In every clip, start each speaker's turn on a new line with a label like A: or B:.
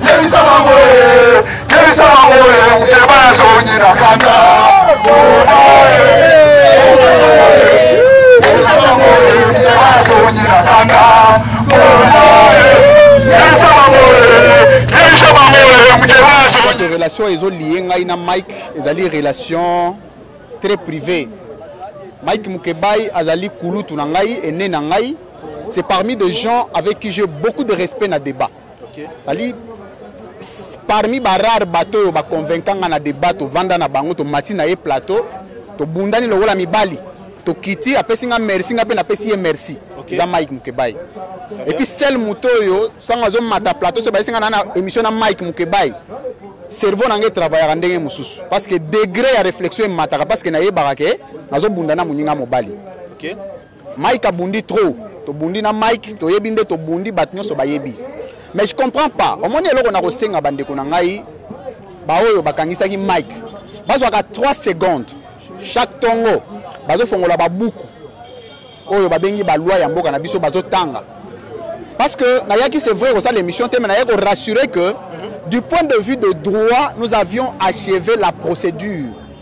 A: Yebisa bango ye, yebisa bango ye, muteba ya sonyi na kanda. Mona ye, yebisa bango ye, muteba ya sonyi na kanda. Mona ye, yebisa bango ye, yebisa bango ye, muteba ya sonyi. Relation ezo liye ngai na Mike ezali relation très privée. Mike Mukebayi azali kulutu na ngai, ene na ngai. C'est parmi des gens avec qui j'ai beaucoup de respect na débat. okay. sali parmi barare bato oyo baconvainka nga na debat tovanda na bango tomati na ye plateau tobundani lokola mibali tokiti apesi nga merci nga mpe napesi ye merci okay. eza mike mukebai epuis sel moto oyo sango azomata plateau so bayesi nga na na émission na mike mukebai cerveau na ngai travaillaka ndenge mosusu parce que degré ya réflexion emataka parce que nayebaka ke nazobunda na moninga mobali okay. Mike abundi trop tobundi na Mike toyebi nde tobundi bato nyonso bayebi mais je comprends pas omoni eloko na kosenga bandeko na ngai baoyo bakangisaki Mike bazwaka 3 secondes chaque tongo bazofongola babuku oyo babengi balwa ya mboka na biso bazotanga parce que nayaki c'est vrai kosala émission te mais nayaki korassurer que du point de vue de droit nous avions achevé la procédure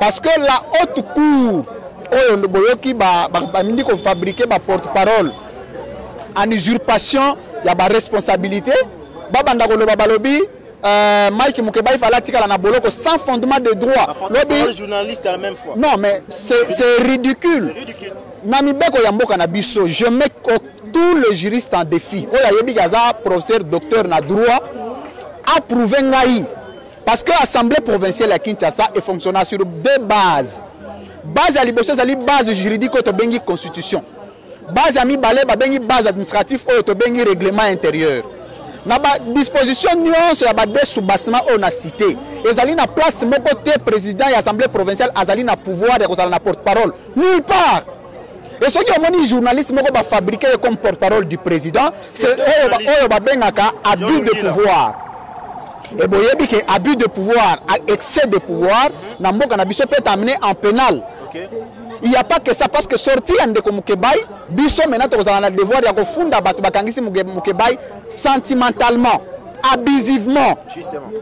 A: parce que la haute cour oyo boyoki bamindi ba, ba kofabrike baporte parole en usurpation ya baresponsabilité babanda koloba balobi euh, Mike Mukebaï fallait tikala na boloko sans fondement de droit. Lobi journaliste
B: à la même fois. Non mais c'est c'est
A: ridicule. ridicule. Na mibeko ya mboka na biso, je mets tous les juristes en défi. Oya yebi gaza professeur docteur na droit a prouvé ngai Parce que assemblée provinciale ya Kinshasa e fonctionna sur deux bases. Base ya liboso ezali base juridique oyo tobengi constitution. Base ya mibale babengi base administrative oyo tobengi règlement intérieur. na badisposition nyonso ya bade soubassement oyo na cité ezali na place moko te président ya assemblée provinciale azali na pouvoir ya kozala na porte parole nulle part et soki omoni journaliste moko bafabrike ye comme porte parole du président oyo babengaka abus de pouvoir e boyebi ke abus de pouvoir excès de pouvoir na mboka na biso mpe tamine en pénal okay. il n'y a pas que ça parce que sorti ya ndeko mukebai biso maintenant tokozala na devoir ya kofunda bato bakangisi mukebai sentimentalement abusivement Justement.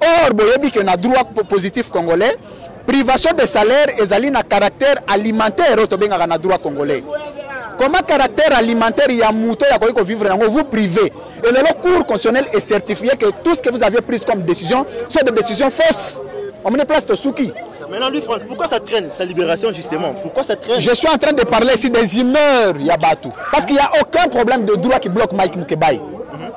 A: Or, boyebi que na droit positif congolais, privation de salaire ezali na caractère alimentaire oyo tobengaka na droit congolais. Comment caractère alimentaire ya moto ya koki vivre nango vous privé. Et le cours constitutionnel est certifié que tout ce que vous avez pris comme décision, c'est des décisions fausses. On met place au souki. Maintenant, lui, France, pourquoi
B: ça traîne sa libération, justement Pourquoi ça traîne Je suis en train de parler ici
A: des humeurs, Yabatou. Parce qu'il n'y a aucun problème de droit qui bloque Mike Mukebay.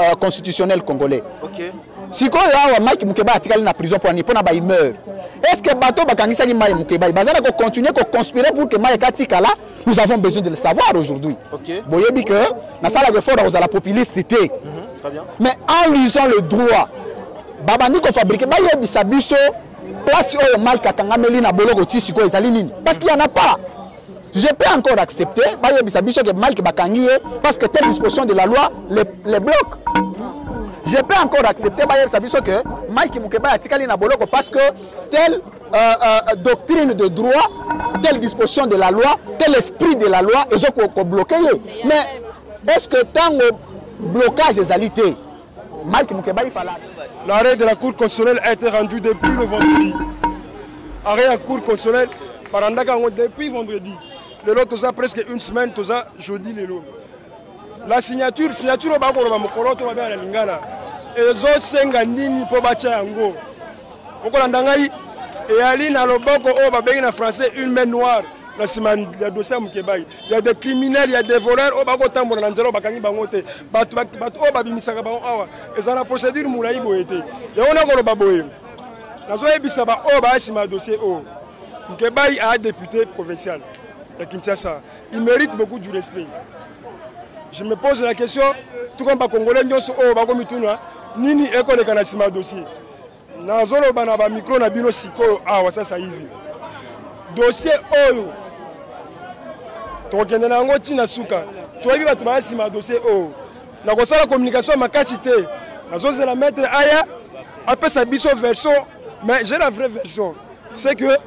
A: euh, constitutionnel congolais okay. sikoyo awa mike mukeba atikali na prison mpo ani mpo na baimeur est ce que bato bakangisaki mai mukeba baza na kocontinue koconspire pour que mai ekatikala nous avons besoin de le savoir aujourd'hui okay. boyebi que nasalaka effort ya kozala populiste te mm -hmm. mais en lisant le droit babandi kofabrike bayebisa biso place oyo mike akangameli na boloko ti sikoyo ezali nini parce qu'il y en a pas Je peux encore accepter, bayebisa biso que Mike bakangi ye parce que telle disposition de la loi les, les bloque. Je peux encore accepter, bayebisa biso que Mike Mukeba atikali na boloko parce que telle euh, euh, doctrine de droit, telle disposition de la loi, tel esprit de la loi ezo ko, ko bloquer ye. Mais est-ce que tango blocage ezali te? Mike Mukebayi Fala. L'arrêt de la Cour
C: constitutionnelle a été rendu depuis le vendredi. Arrêt de la Cour constitutionnelle, barandaka yango depuis vendredi. Lelo toza presque une semaine, toza jeudi lelo. La signature, signature oyo bakoloba mokolo to babengana lingala ezosenga nini mpo batya yango okolanda ngai eyali na loboko oyo babengi na français une main noire na nsima ya dossier ya mokebayi ya des criminels ya des voleurs oyo bakotambola na nzela oyo bakangi bango te bato bato oyo babimisaka bango awa eza na procédure molai boye te yango nakoloba boye nazoyebisa baoyo baya nsima ya dossier oyo nkebai aya député provincial ya kinshasa il mérite beaucoup du respect je me pose la question tout comme bacongolais nyonso oyo bakomituna nini ekoleka na nsima ya dossier nazoloba na bamikro na bino sikoyo awa sasa hivi dosie oyo tokokende na yango ntina suka toyebi bato baya nsima ya dosie oyo nakosala communication ya makasi te nazozela maître aya apesa biso version mais j'ai la vraie version c'est que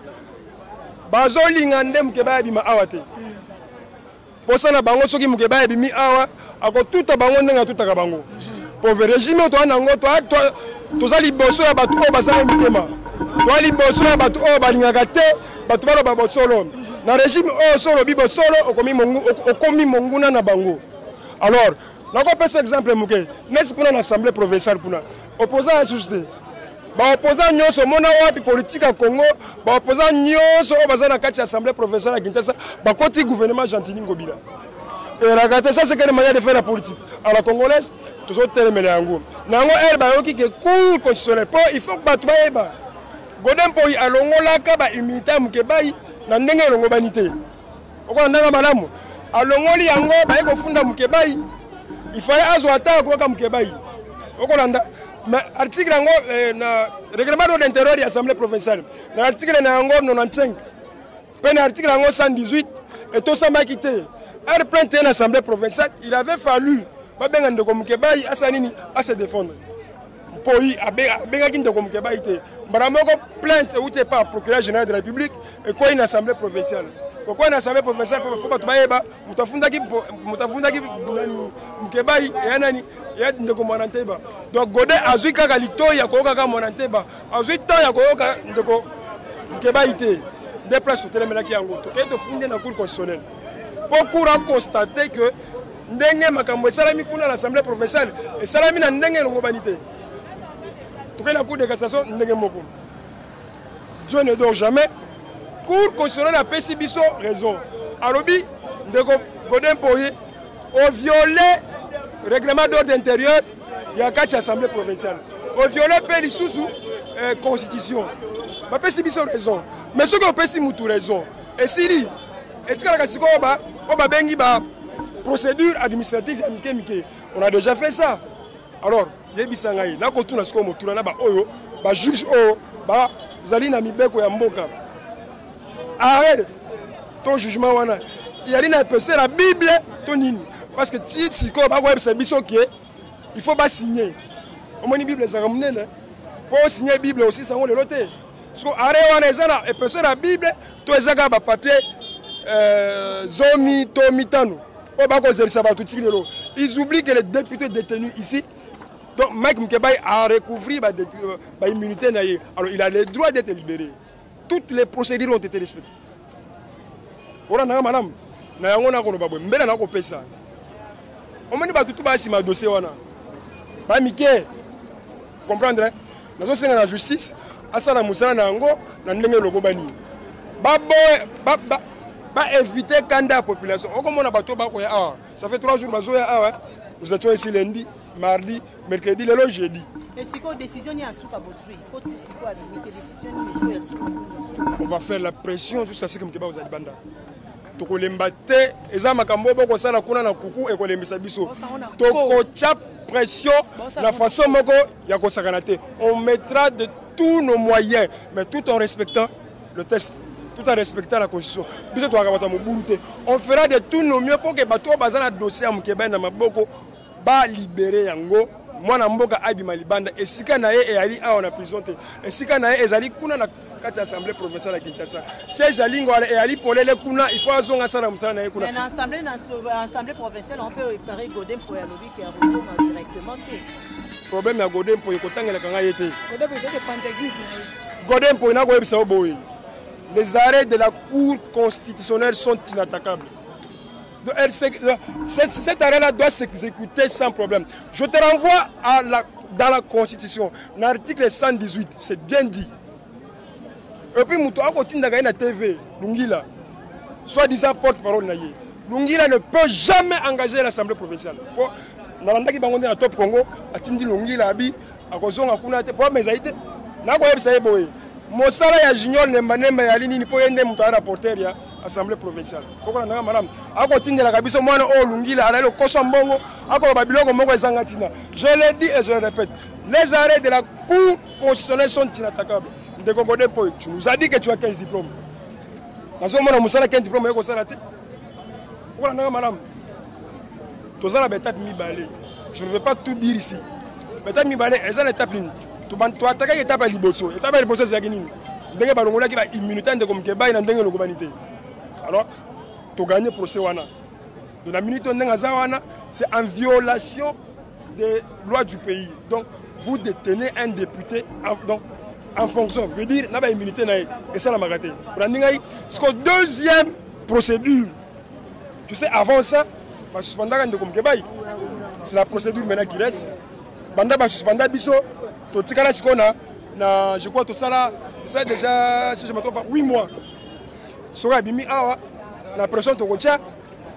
C: bazolinga nde moke bayabima awa te posa na bango soki mukeba ebimi awa akotuta bango ndenge atutaka bango pove regime oyo toa nango toza liboso ya bato oyo bazanga mitema toa liboso ya bato oyo balingaka te bato baloba bosolo na regime oyo so olobi bosolo okomi monguna na bango alors nakopesa exemple moke nesi kuna na assemblée provinciale kuna opposant ya susu te baopoza nyonso omona wapi politike ya congo baopoza nyonso oyo baza na kati ya assemblée provinciale ya kinshasa bakoti gouvernement gentini ngobila elaka te ça sekende manière de faire la politique à la congolaise tozotelemela yango na yango ere bayoki ke cour constitutionnel mpo il faut bato bayeba godempoyi alongolaka bahumilité ya mokebayi na ndenge elongobani te okolandanga malamu alongoli yango baye kofunda mukebayi ifale azwa ata akoyaka mukebayi okolanda mais article yango eh, na règlement d'ordre intérieur ya assemblée provinciale na article na yango 95 mpe na article yango 118 etosamaki te heure plainte ye na assemblée provinciale il avait fallu babenga ndeko mokebayi asa nini ase défendre mpoi abengaki ndeko mokebai te mbala moko plainte euti epa procureur général de la république ekwei na assemblée provinciale kokwei na assemblée provinciale mpo bato bayeba moto afundaki moto afundaki nani mokebai eya nani eya ndeko mwana nteba donc gode azwi kaka litoi ya koyoka kaka mwana nteba azwi temps ya koyoka ndeko mokebai te nde place totelemelaki yango tokei tofundi na cour constitutionnelle mpo cour aconstate que ndenge makambo esalami kuna na assemblée provinciale esalami na ndenge elongobani te tokei na cour de cassation ndenge moko dieu ne dort jamais cour constitutionnelle apesi biso raison alobi ndeko godin poye oviole règlement d'ordre intérieur ya kati ya assemblée provinciale oviole mpe lisusu eh, constitution bapesi biso raison mais soki opesi mutu raison esili etikalaka sikoyo ba oyo babengi ba procédure administrative ya mike mike on a déjà fait ça alors yebisa ngai nakotuna sikoyo motuna na baoyo bajuge oyo bazali na mibeko ya mboka arret to jugement wana yali na epesela bible to nini parce que ti sikoyo bakoyebisa biso ke il faut basigne omoni bible ezalaka monene mpo osigne bible osisa yango lelo te soko are wana eza na epeso na bible to eza kaka bapapier euh, zomi to mitano oyo bakozelisa bato tiki lelo ils oublient que les députés détenus ici donc mike mkebai a recouvrir baimmunité euh, na ye alors il a le droit d'être libéré toutes les procédures ont été respectées olandaka malamu na yango nakoloba boye mbele nakopesa omoni bato tu basima dossier wana bamike comprendre nazosenga na justice asala mosala na yango na ndenge elokobani baboye baevite kanda ya population okomona bato bakoya awa ça fait 3 jours bazoya awa nous étions ici lundi mardi mercredi lelo jeudi esikoyo décision nini ya suka bozwi po ti sikoyo abimi te décision nini esikoyo ya suka on va faire la pression jusqu'à ce que mokeba ozali banda tokolemba te eza makambo oyo bokosala kuna na kuku ekolembisa biso tokotya pression na façon moko ya kosakana te on mettra de tous nos moyens mais tout en respectant le test tout en respectant la constitution biso toyaka bato ya mobulu te on fera de tous nos mieux mpo ke bato oyo baza na dossier ya mokebani na maboko ba libere yango mwana mboka abima libanda esika na ye eyali awa na prison te esika na ye ezali kuna na kati ya assemblée provinciale ya kinshasa siège ya lingo wana eyali polele kuna il faut azonga asala mosala na ye kuna na assemblée na
D: assemblée provinciale on peut préparer godin mpo ya lobi ke akozonga directement te problème
C: ya godin mpo ekotangelaka ngai ye te godin mpo nakoyebisa yo boye les arrêts de la cour constitutionnelle sont inattaquables Elle, cette, cette arrêt-là doit s'exécuter sans problème. Je te renvoie à la, dans la Constitution, l'article 118, c'est bien dit. Et puis, Moutou Akotinda na TV, Lungila, soi-disant porte-parole Naye. Lungila ne peut jamais engager l'Assemblée provinciale. Pour, nalandaki bango nde na top congo atindi longila abi akozonga kuna te po amezali te nakoyebisa ye boye mosala ya junior nembanemba yali nini mpo ye nde moto aya na porter ya assemblée provinciale okolandanga malamu akotindelaka biso mwana oyo olungila alali okosa mbongo akoloba biloko moko ezanga ntina je le dis et je le répète les arrêts de la cour constitutionnelle sont inattaquables ndeko gode mpo tu nous as dit que tu as 15 diplôme nazomona mosala 15 diplôme ye kosala te okolandanga malamu toza na baetape mibale je ne veux pas tout dire ici baetape mibale eza na etape nini toatakaki etape ya liboso etape ya liboso ezalaki nini ndenge balongolaki baimmunité ya ndeko mokebai na ndenge elongobani te alors toganye procès wana de la minute oyo ndenge aza wana c'est en violation des lois du pays donc vous détenez un député donc en fonction veut dire na baimmunité na ye esalamaka te olandi ngai siko deuxième procédure Tu sais, avant ça, ba suspendaka ndeko Mukebayi. C'est la procédure maintenant qui reste. Banda ba suspenda biso, to tikala sikona na je crois tout ça là, ça déjà si je me trompe pas 8 mois. Sora bimi awa la pression to kocha.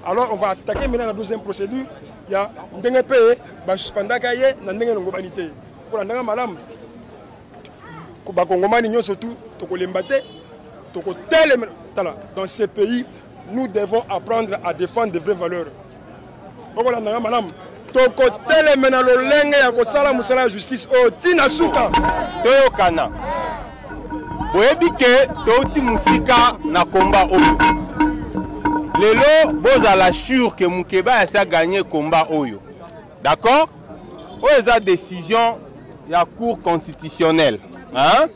C: Alors on va attaquer maintenant la deuxième procédure. Il y a ndenge pe ba suspendaka ye na ndenge longo banité. Pour la ndanga malamu bakongomani nyonso tu tokolemba te tokotelema tala dans ce pays nous devons apprendre à défendre de vraies valeurs okolanda nga malamu tokoteleme na lolenge ya kosala mosala ya justice oyo ti na suka toyokana
E: boyebi ke touti mosika na komba oyo lelo bozala sure ke mokeba yasi aganye komba oyo D'accord Oyo eza décision ya cour constitutionnelle. Hein?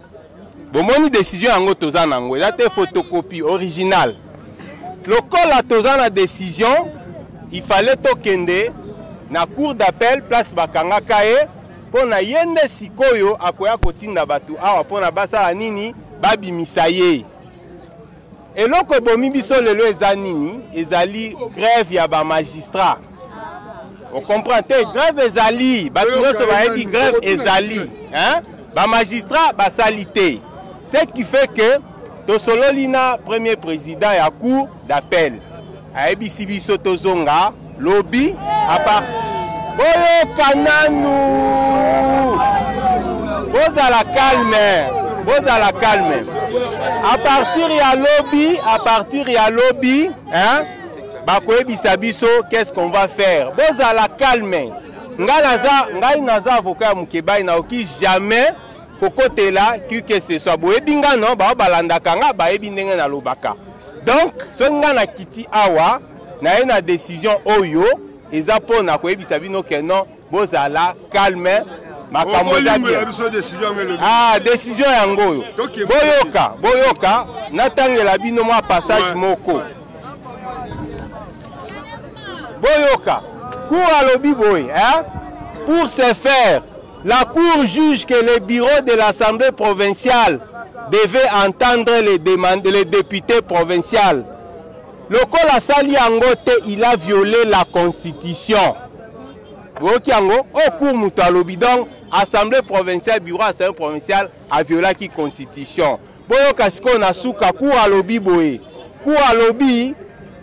E: bomoni décision yango toza nango eza te photocopie original lokola toza na décision il fallait tokende na cour d'appel place bakangaka ye mpo na ye nde sikoyo akoya kotinda bato awa mpo na basala nini babimisa ye Eloko ebomi biso lelo eza nini? Ezali grève ya ba magistrats. On comprend te grève ezali, bato nyonso bayebi grève ezali. Hein? Ba magistrats basali te. Ce qui fait que tosololi na premier président ya cour d'appel. Ayebisi biso tozonga lobi apa boyoka nanu bozala calme bozala calme a partir ya lobi a partir ya lobi hein bakoyebisa biso qu'est-ce qu'on va faire bozala calme ngai naza ngai naza avocat ya mukebayi naoki jamais kokotela kikeseso boyebi nga no bao balandaka nga bayebi ndenge nalobaka donc soki nga na kiti awa naye na décision oyo eza mpo na koyebisa bino ke non bozala calme makambo eza bien ah décision yango oyo boyoka boyoka natangela bino mwa passage moko boyoka cour alobi boye hein pour se faire La Cour juge que le bureau de l'Assemblée provinciale devait entendre les, demandes, les députés provinciales. Lokola asali yango te, il a violé la constitution. oyoki yango oyo cour moto alobi donc assemblée provinciale bureau assemblée provinciale aviolaki constitution Boyoka sikoyo na suka cour alobi boye. Cour alobi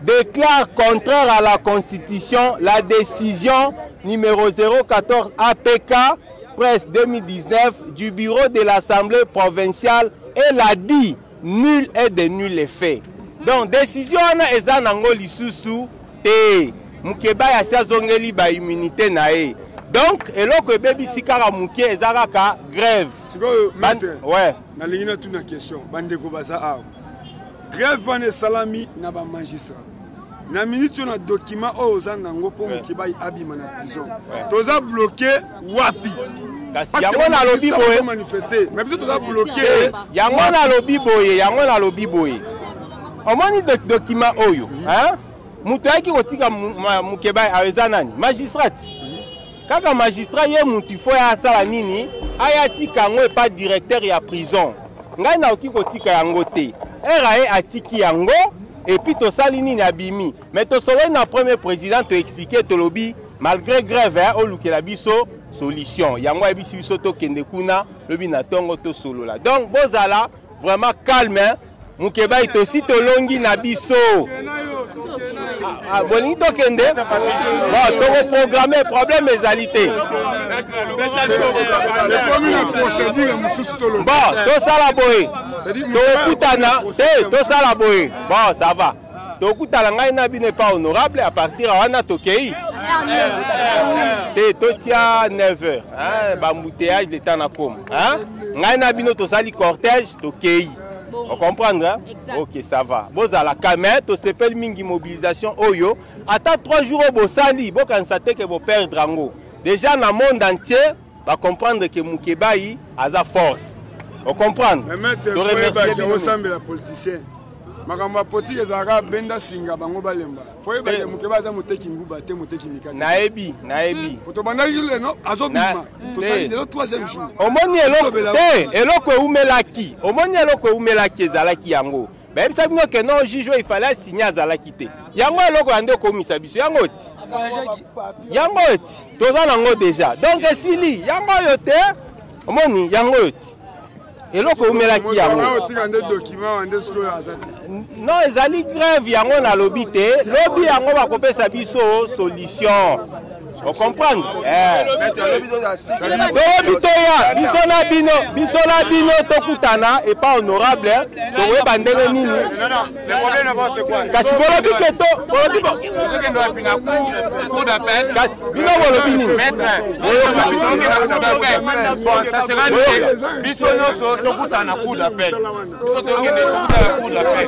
E: déclare contraire à la constitution la décision numéro 014 APK presse 2019 du bureau de l'Assemblée provinciale et l'a dit nul est de nul effet. Donc décision wana eza nango lisusu te. Mukeba ya si azongeli ba immunité na ye. donc eloko ebebisi kaka moke eza kaka grève sikoyo ouais.
C: nalingi
E: natuna
C: question bandeko baza awa grève wana esalami na bamagistrat na miniti oyo na document oyo oza nango mpo mokibai abima na prison toza bloke wapi yango
E: nalobi boye me biso toza
C: bloke eh, yango nalobi
E: boye yango nalobi boye omoni document oyo moto ayaki kotika mokebai ayo eza nani magistrate kaka magistrat ye mutu il faut ya asala nini aya atika yango epa directeur ya prison ngai nakoki kotika yango te rae atiki yango epuis tosali nini abimi me tosololi na premier président toexplike tolobi malgré grève eh, olukela biso solution yango ayebisi biso tokende kuna lobi na ntongo tosolola donc bozala vraiment calme Mukebayi tosi tolongi na biso. Ah, ah, bolingi tokende bon tokoprograme problème ezali te bon tosala boye tokokutana te tosala boye bon ça va tokutana ngai na bino epa honorable à partir wana tokei te totia 9 heures hein, bambouteillage leta na koma hein? ngai na bino tosali cortège tokei ocomprendre hein? ok ça va bozala kame tosepeli mingi mobilisation oyo ata 3 jours oyo bosali bokanisa te ke boperdre yango déjà na monde entier Ba comprendre que Mukebayi aza force. O comprendre? Mais maître, to remercier
C: bino. Osambela politicien. makambo ya politike ezalaka benda singa bango balemba foyeba eh. moke baza moteki nguba te moteki mikate nayebi nayebi
E: hmm. po tobandaki
C: leno azobima tosali eh. lelo troisième jour omoni eloko te
E: eloko eumelaki omoni eloko eumelaki ezalaki yango bayebisa bino ke non juge oyo ifale asigne azalaki te yango eloko ya nde okomisa biso yango ti yango ti toza nango deja donc esili yango oyo te omoni yango oyo ti eloko eumelaki yango non ezali grève yango nalobi te lobi yango bakopesa biso solution okomprendre eh. toyebi toya biso na bino biso na bino tokutana epa honorable eh. tokoyeba ndenge nini
F: kasi bolobi ke to
E: bolobi
F: kasi bino bolobi
E: nini biso nyonso tokutana cour d'appel
F: biso tokende tokutana cour d'appel